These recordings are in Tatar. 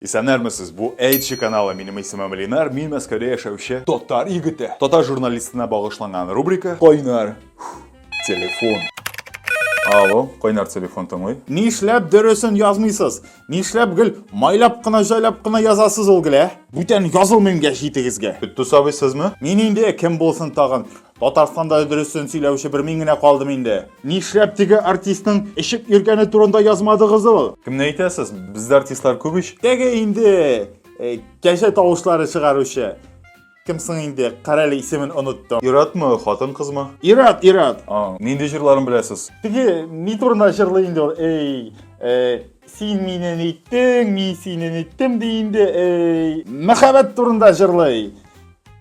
Исәннәрмесез, бу Эйдж каналы, минем исемем Ленар, мин Мәскәүдә яшәүче татар егете. Татар журналистына багышланган рубрика Кайнар телефон. Алло, кайнар телефон тыңлый. Нишләп дөресен язмыйсыз? Нишләп гел майлап кына җайлап кына язасыз ул гел, ә? Бүтән язылмыйм гә җитегезгә. Тусабый сезме? Мин инде кем булсын тагын? Татарстанда дөресен сөйләүче бер мин генә калдым инде. Нишләп теге артистның эчеп йөргәне турында язмадыгыз ул? Кемне әйтәсез? Бездә артистлар күп ич. Теге инде э, кәҗә тавышлары чыгаручы. Кем соң инде? Карале исемен оныттым. Иратмы, хатын кызмы? Ират, Ират. А, нинди җырларын беләсез? Теге ни турында җырлый инде ул? Эй, э, син мине ниттең, мин сине ниттем ди инде. Эй, мәхәббәт турында җырлый.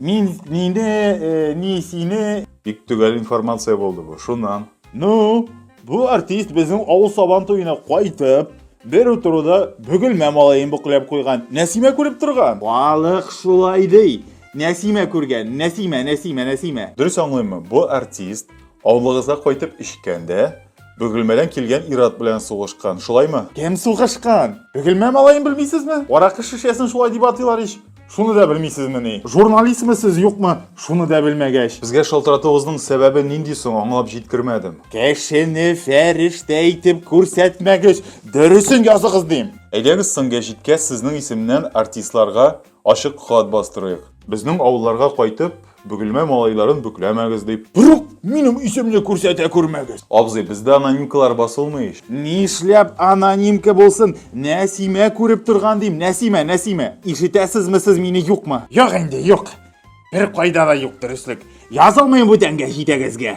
Мин, мине, э, ни, сине. Бик төгәл информация булды бу. Шуннан. Ну, бу артист безнең авыл сабан туена кайтып, бер утыруда бөгелмә малаен буклап куйган. Нәсимә күреп торган. Балык шулай ди. Нәсимә күргән. Нәсимә, Нәсимә, Нәсимә. Дөрес аңлыймы? Бу артист авылыгызга кайтып эчкәндә, Бөгелмәдән килгән ират белән сугышкан, шулаймы? Кем сугышкан? Бөгелмә малаен белмисезме? Аракы шешәсен шулай дип атыйлар ич. Шуны да белмисезмени? Журналистмы сез, юкмы? Шуны да белмәгәч. Безгә шалтыратуыгызның сәбәбе нинди соң, аңлап җиткермәдем. Кешене фәрештә итеп күрсәтмәгез, дөресен языгыз дим. Әйдәгез соң гәҗиткә сезнең исемнән артистларга Ачык хат бастырыйк. Безнең авылларга кайтып, Бөгелмә малайларын бөкләмәгез дип. Рук, минем исемне күрсәтә күрмәгез. Абзый, бездә анонимкалар басылмый ич. Нишләп анонимка булсын? Нәсимә күреп торган дим, Нәсимә, Нәсимә! Ишетәсезме сез мине, юкмы? Юк инде, юк. Беркайда да юк дөреслек. Язылмыйм бүтәнгә җитәгезгә.